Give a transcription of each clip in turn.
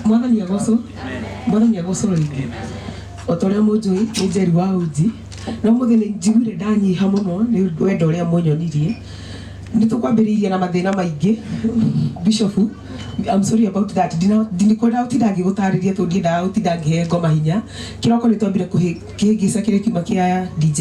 mwathani agocwo mwathani agocwo rĩngĩ o ta ũrĩa mũnjũĩ nĩ njeri wa unji no mũthĩ nĩ njiguire ndanyiha mũno nĩ ũndũ wenda ũrĩa mũnyonirie nĩ tũkwambĩrĩirie na mathĩna maingĩ bishopu I'm sorry about that Ndina- ndikwendaga gũtinda ngĩgũtarĩria tondũ ndiendaga gũtinda ngĩhe ngoma hinya kĩroko nĩ twambire kũhĩ- kĩhĩngĩca kĩrĩa kiuma kĩa DJ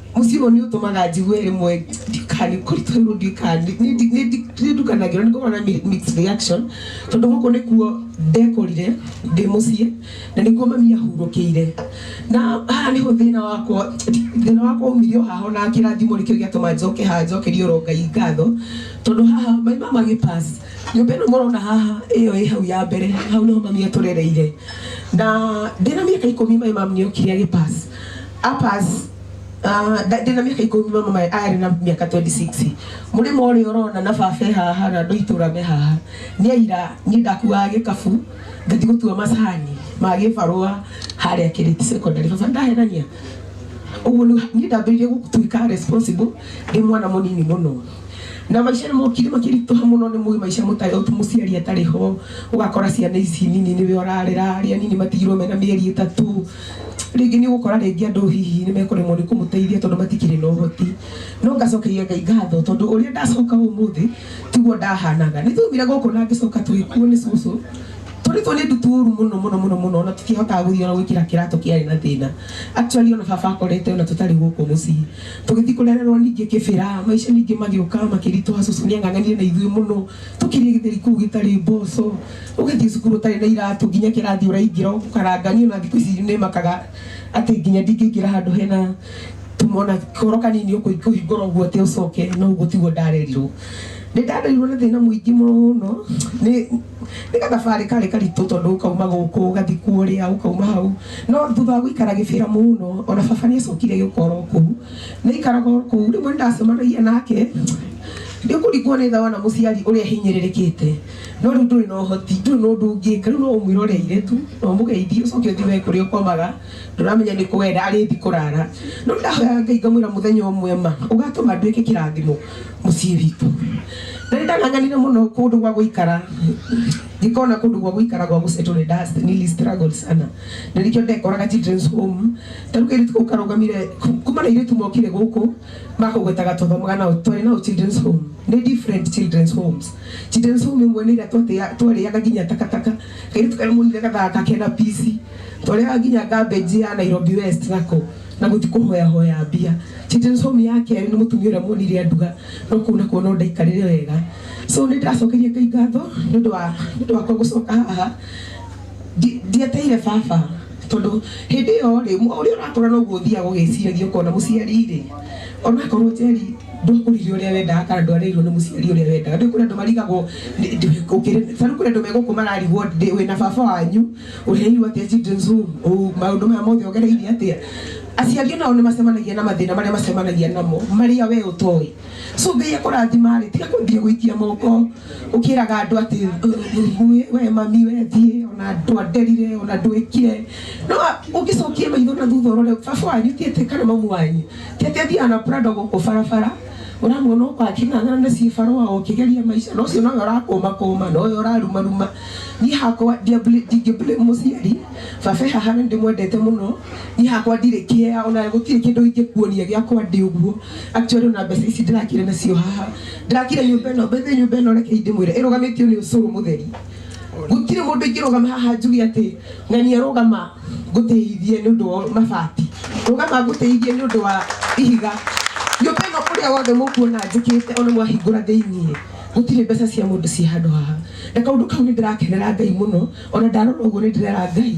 Mũcimo nĩ ũtũmaga njigue rĩmwe ndikani kũritũ rĩu ndikani nĩ ndukanagĩrwo nĩ ngorwo na mi- mixed reaction tondũ gũkũ nĩkuo ndekũrire ndĩ mũciĩ na nĩkuo mami ahurũkĩire na haha nĩho thĩna wakwa thĩna wakwa umire o haha ona kĩrathimo nĩkĩo gĩatũma njoke haha njokerie oro ngai ngatho tondũ haha mai mama gĩpas nyũmba ĩno mũrona haha ĩyo ĩ hau ya mbere hau nĩho mami atũrereire na ndĩna mĩaka ikũmi mai mami nĩokire agĩpas Apas ah, nda- ndĩ na mĩaka ikũmi mama maĩ arĩ na mĩaka 26 mũrĩmo ũrĩa ũrona na baba e haha na andũ itũra me haha nĩ aira niĩ ndakuaga gĩkabu ngathi gũtua macani ma gĩbarũa harĩa kĩrĩti secondary baba ndahenania ũguo nĩ- niĩ ndambĩrĩirie gũtuĩka responsible ndĩ mwana mũnini mũno na maica nĩ mokire makĩritũha mũno nĩ mũĩ maica mũtarĩ ũtu mũciari atarĩ ho ũgakora ciana ici nini nĩwe ũrarera arĩa nini matigirwo mena mĩeri ĩtatũ Rĩngĩ nĩ ũgũkora rĩngĩ andũ hihi nĩ mekũremwo nĩ kũmũteithia tondũ matikĩrĩ na ũhoti, no ngacokeria Ngai ngatho tondũ ũrĩa ndacoka ũmũthĩ tiguo ndahanaga. Nĩ twaumire gũkũ na ngĩcoka tũgĩkuo nĩ cũcũ, tũrĩtwo nĩ ndutu ũru mũno mũno mũno mũno ona tũtihotaga gũthiĩ ona gwĩkĩra kĩratũ kĩarĩ na thĩna. Actually ona baba akorete ona tũtarĩ gũkũ mũciĩ. Tũgĩthiĩ kũrererwo ningĩ Kĩbĩra, Maisha ningĩ magĩũka makĩritũha, cũcũ nĩ ang'ang'anire na ithuĩ mũno, tũkĩrĩe gĩtheri kũu gĩtarĩ mboco. ũgathiĩ cukuru ũtarĩ na iratũ nginya kĩrathi ũraingĩra ũkaranga niĩ ona thikũ ici nĩmakaga atĩ nginya ndingĩingĩra handũ hena tumona koro kanini ũkũ- kũhingũra ũguo atĩ ũcoke no ũguo tiguo ndarerirwo nĩ ndarerirwo na thĩna mũingĩ mũno nĩ nĩ gathabarĩ karĩ karitũ tondũ ũkauma gũkũ ũgathiĩ kũrĩa ũkauma hau no thutha wa gũikara gĩbĩra mũno ona baba nĩ acokire gĩũka oro kũu naikaraga oro kũu rĩmwe nĩ ndacemanagia nake nĩ kũringwo nĩ tha wona mũciari ũrĩa hinyĩrĩrĩkĩte no rĩu ndũrĩ na ũhoti ndũrĩ na ũndũ ũngĩka rĩu no ũmwĩroreire tu na ũmũgeithie ũcoke ũthiĩ we kũrĩa ũkomaga ndũramenya nĩ kũwenda arĩthi kũrara no ndahoyaga ngai ngamwĩra mũthenya ũmwe ma ũgatũma nduĩke kĩrathimo mũciĩ witũ na nĩ ndang'ang'anire mũno kũndũ gwa gũikara ngĩkona kũndũ gwa gũikara gwa gũcetwo nĩ nda- nili struggle sana na nĩkĩo ndekoraga children's home tarĩu kairĩtu kau karũgamire kuma na airĩtu mokire gũkũ makũgwetaga tũthomaga nao twarĩ nao children's home nĩ different children's homes children's home imwe nĩ iria twatĩa- twarĩaga nginya takataka kairĩ tukaremonire gathaka kena pisi twarĩaga nginya garbage ya Nairobi West nako na gũthi kũhoyahoya mbia children's home ya kerĩ nĩ mũtumia ũrĩa muonire nduga no kũu nakuo no ndaikarĩre wega so nĩ ndĩracokeria ngai ngatho nĩ ũndũ wa nĩ ũndũ wakwa gũcoka haha Ndi- ndieteire baba Tondũ hĩndĩ ĩyo rĩ, ũrĩa ũrakũra noguo ũthiaga ũgĩciragia ũkona mũciari rĩ, onakorwo Njeri ndwakũrire ũrĩa wendaga kana ndwarerirwo nĩ mũciari ũrĩa wendaga. Ndũĩ kũrĩ andũ marigagwo nĩ- ndũĩ- ũkĩrĩ- ta rĩu kũrĩ andũ me gũkũ mararigwo ndĩ- wĩna baba wanyu ũrerirwo atĩa children's home, ũ- maũndũ maya mothe ũgereire atĩa. Aciari onao nĩ macemanagia na mathĩna marĩa macemanagia namo marĩa we ũtoĩ. So Ngai akũrathima rĩ, tiga gũthiĩ gũikia moko ũkĩraga andũ atĩ "Ĩ, we mami we thiĩ ona ndwanderire ona ndwĩkire no ũngĩcokie maitho na thutha ũrore baba wanyu ti atĩ kana mamu wanyu ti atĩ athiaga na prado gũkũ barabara ũramuona ũkwa akĩng'ang'ana na cibarũa o ũkĩgeria maica na ũcio nowe ũrakũmakũma nowe ũrarumaruma niĩ hakwa ndiambli- ndingĩ blame mũciari baba e haha na nĩ ndĩmwendete mũno niĩ hakwa ndirĩ kĩea ona gũtirĩ kĩndũ ingĩkuonia gĩakwa ndĩ ũguo actually ona mbeca ici ndĩrakire nacio haha ndĩrakire nyũmba ĩno mbethe nyũmba ĩno reke indĩmwĩre ĩrũgamĩtio nĩ ũcũrũ mũtheri gũtirĩ mũndũ ingĩrũgama haha njuge atĩ ng'ania rũgama ngũtĩithie nĩ ũndũ wa mabati rũgama ngũtĩithie nĩ ũndũ wa ihiga nyũmba ĩno ũrĩa wothe mũkuona njĩkĩte ona mwahingũra thĩiniĩ gũtirĩ mbeca cia mũndũ ciĩ handũ haha na kaũndũ kau nĩ ndĩrakenera ngai mũno ona ndarora ũguo nĩ ndĩrera ngai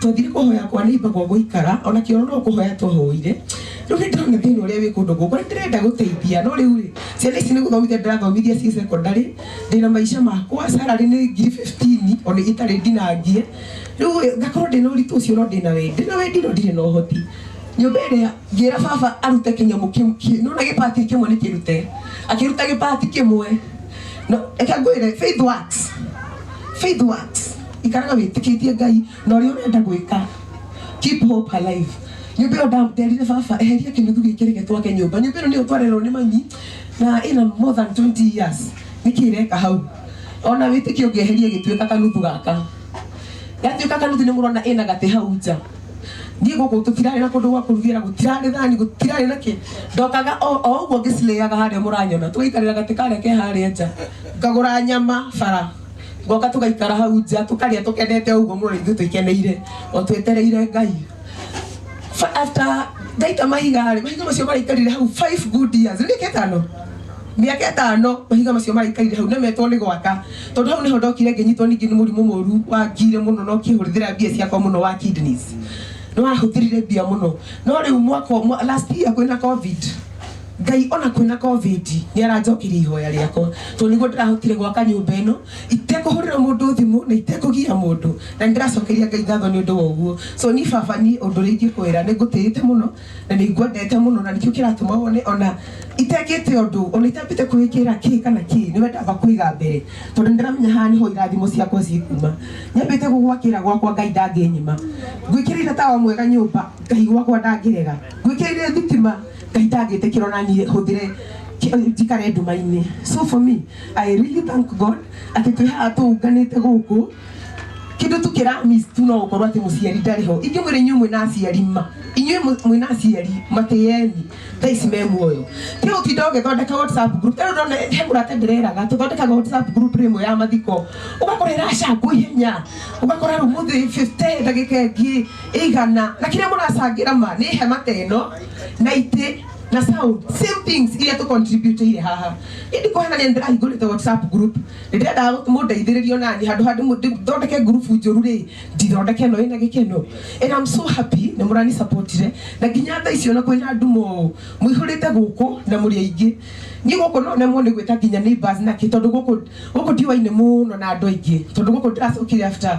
twathire kũhoya kwa nĩimba gwa gũikara ona kĩoro no kũhoya twahoire rĩu nĩ ndĩrona thĩna ũrĩa wĩ kũndũ gũkũ nĩ ndĩrenda gũteithia no rĩu rĩ ciana ici nĩ gũthomithia ndĩrathomithia ciĩ secondary ndĩna maica makwa salary nĩ ngiri 15 ona itarĩ ndinangie rĩu rĩ, ngakorwo ndĩna ũritũ ũcio no ndĩna wendi ndĩna wendi no ndirĩ na ũhoti nyũmba ĩrĩa ngĩra baba arute kĩnyamũ kĩu kĩ- nona gĩbati kĩmwe nĩ kĩrute akĩruta gĩbati kĩmwe no reke ngwĩre faith works faith works ikaraga wĩtĩkĩtie ngai na ũrĩa ũrenda gwĩka keep hope alive nyũmba ĩyo ndamũterire baba eheria kĩnuthu gĩkĩ reke twake nyũmba nyũmba ĩno nĩyo twarerwo nĩ mami na ĩna more than 20 years nĩkĩ ĩreka hau ona wĩtĩkio ũngĩeheria gĩtuĩka kanuthu gaka gatuĩka kanuthu nĩ mũrona ĩna gatĩ hau nja niĩ gũkũ tũtirarĩ na kũndũ gwa kũrugĩra gũtirarĩ thani gũtirarĩ na kĩ ndokaga o o ũguo ngĩcileaga harĩa mũranyona tũgaikarĩra gatĩ karĩa ke harĩa nja ngagũra nyama bara ngoka tugaikara hau nja tukaria tukenete uguo muno ithu tuikeneire o twetereire ngai Fa- after ndaika mahiga rĩ mahiga macio maraikarire hau five good years nä kä tano mĩaka ĩtano mahiga macio maraikarire hau nemetwo nĩ gwaka tondũ hau nĩho ndokire ngĩnyitwo ningĩ nĩ mũrimũ mũru wangire mũno no kĩhũrĩthĩra mbia ciakwa mũno wa kidneys nĩ wahũthĩrire mbia mũno no rĩu mwaka ũmwe- last year kwĩna covid Ngai ona kwĩna Covid nĩ aranjokirie ihoya rĩakwa tondũ nĩguo ndĩrahotire gwaka nyũmba ĩno itekũhũrĩra mũndũ thimũ na itekũgia mũndũ na nĩ ndĩracokeria Ngai ngatho nĩ ũndũ wa ũguo so niĩ baba niĩ ũndũ ũrĩa ingĩkwĩra nĩ ngũtĩĩte mũno na nĩ ngwendete mũno na nĩkĩo kĩratũma wone ona itekĩte ũndũ ona itambĩte kwĩĩkĩra kĩ kana kĩ nĩwe ndamba kũiga mbere tondũ nĩ ndĩramenya haha nĩho irathimo ciakwa cikuma nyambĩte gũgwakĩra gwakwa Ngai ndangĩnyima ngwĩkĩrĩire tawa mwega nyũmba Ngai wakwa ndangĩrega ngwĩkĩrĩire thitima ngai ndangĩtĩkĩra ona niĩ hũthĩre kĩ- njikare nduma-inĩ so for me i really thank god atĩ twĩ haha tũũnganĩte gũkũ kĩndũ tũkĩra miss tu no gũkorwo atĩ mũciari ndarĩ ho ingĩ mwĩrĩ inyuĩ mwĩna aciari ma inyuĩ mũ- mwĩna aciari matĩyeni thaa ici me muoyo ti ũtinda ũgĩthondeka whatsapp group tarĩu ndona he mũrata ndĩreraga tũthondekaga whatsapp group rĩmwe ya mathiko ũgakora ĩracangwo ihenya ũgakora rĩu mũthĩ 50 ndagĩka ĩngĩ igana na kĩrĩa mũracangĩra ma nĩ hema ta ĩno na itĩ na sound same things iria tũ contribute ire haha indi kũhana nĩ ndĩrahingũrĩte whatsapp group nĩ ndĩrendaga gũtũ mũndeithĩrĩrio nani handũ handũ mũndũ- thondeke group njũru rĩ ndithondeke ĩno ĩna gĩkeno and I'm so happy nĩ mũrani supportire na nginya thaa icio na kwĩna nduma ũũ mũihũrĩte gũkũ na mũrĩ aingĩ niĩ gũkũ no nemwo nĩ gwĩta nginya neighbors na kĩ tondũ gũkũ gũkũ ndiũaine mũno na andũ aingĩ tondũ gũkũ ndĩracokire after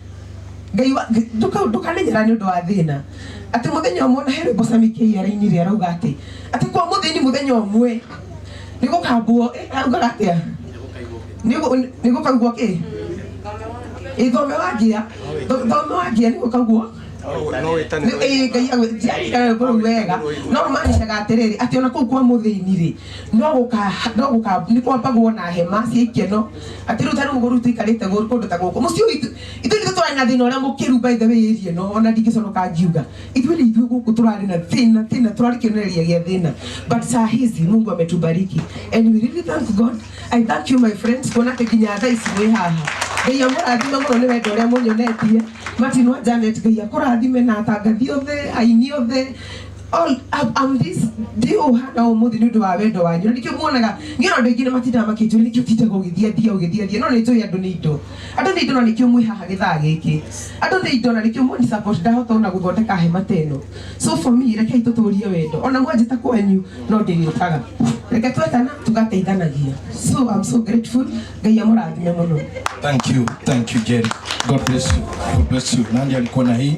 ngai wa- ngai- ndũka- ndũkanĩnyĩra nĩ ũndũ wa thĩna atĩ mũthenya ũmwe na he rwĩmbo sami kĩiara-inĩ rĩa rauga atĩ atĩ kwa mũthĩni mũthenya ũmwe nĩ gũkambwo eh, augaga atĩa Nĩ gũ- nĩ gũkaugwo kĩ ithome wangĩa Tho- thome wangĩa nĩ gũkaugwo no wĩtanĩrwo Nĩ- ĩĩ, ngai agwĩtiarĩra rũgũrũ wega no maanishaga atĩrĩrĩ atĩ ona kũu kwa mũthĩni rĩ no guka no guka ni kwamba guona hema cia ikeno ati ru taru nguru tikarite guru kundu ta guku mucio itu itu ni twari na thina uria mukiru by the way irie no ona ndingiconoka ngiuga itu ni ithu guku turari na thina thina turari kionereria gia thina but saa hizi mungu ametubariki and we really thank god i thank you my friends kuona ati nginya thaa ici mwi haha ngai amũrathime mũno nĩ wendo ũrĩa mũnyonetie matinwa janet ngai akũrathime na atangathi othe aini othe All, I'm, I'm this ndĩ ũũ hana ũmũthĩ nĩ ũndũ wa wendo wanyu na nĩkĩo muonaga nĩ ona andũ aingĩ nĩ matindaga makĩnjũria nĩkĩo ũtindaga ũgĩthia thia ũgĩthia thia no nĩ njũĩ andũ nĩ indo andũ nĩ indo na nĩkĩo mwĩ haha gĩthaa gĩkĩ andũ nĩ indo na nĩkĩo mwoni support ndahota ona gũthondeka hema ta ĩno so for me rekei tũtũrie wendo ona mwanjĩta kwanyu no ndĩrĩũkaga reke twetana tũgateithanagia so I'm so grateful ngai amũrathime mũno Thank you, thank you Jerry. God bless you. God bless you. Nani alikuwa na hii?